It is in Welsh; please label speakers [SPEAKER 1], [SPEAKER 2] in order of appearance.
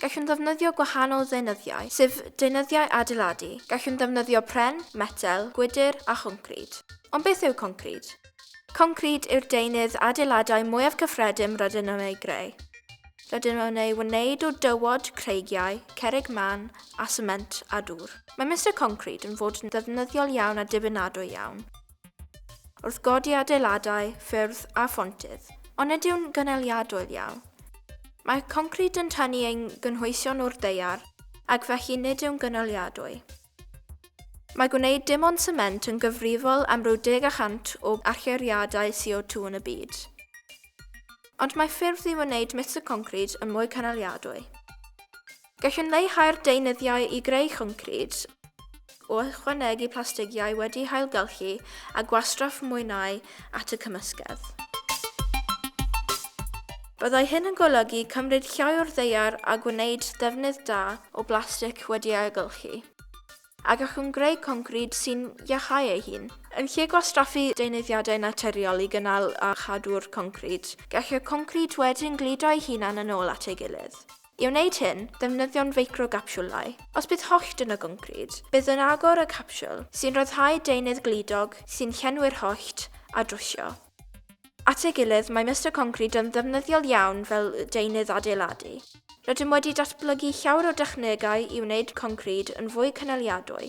[SPEAKER 1] Gallwn ddefnyddio gwahanol ddeunyddiau, sef deunyddiau adeiladu. Gallwn ddefnyddio pren, metel, gwydr a choncrid. Ond beth yw concrid? Concrid yw'r deunydd adeiladau mwyaf cyffredin rydyn nhw'n ei greu. Rydyn nhw'n ei wneud o dywod, creigiau, cerrig mân a sement a dŵr. Mae Mister Concrid yn fod yn ddefnyddiol iawn a dibynadwy iawn. Wrth godi adeiladau, ffyrdd a phontydd. Ond nid yw'n gynaliadwy ddial. Mae concrid yn tynnu ein gynhwysion o'r daear ac felly nid yw'n gynaliadwy. Mae gwneud dim ond sement yn gyfrifol am ryw deg y cant o allyriadau CO2 yn y byd. Ond mae ffyrdd i wneud mister concrid yn mwy cynaliadwy. Gallwn leihau'r deunyddiau i greu concrid o ychwanegu plastigiau wedi'u hailgylchu a gwastraff mwynau at y cymysgedd. Byddai hyn yn golygu cymryd llai o'r ddaear a gwneud defnydd da o blastig wedi'i ailgylchu, a gallwn greu concrid sy'n iacháu ei hun. Yn lle gwastraffu deunyddiadau naturiol i gynnal a chadw'r concrid, gall y concrid wedyn gludo ei hunan yn ôl at ei gilydd. I wneud hyn, defnyddiwn feicrogapsiwlau. Os bydd hollt yn y goncrid, bydd yn agor y capsiwl, sy'n rhyddhau deunydd gludog sy'n llenwi'r hollt, a drwsio. At ei gilydd, mae Mister Concrid yn ddefnyddiol iawn fel deunydd adeiladu. Rydym wedi datblygu llawer o dechnegau i wneud concrid yn fwy cynaliadwy.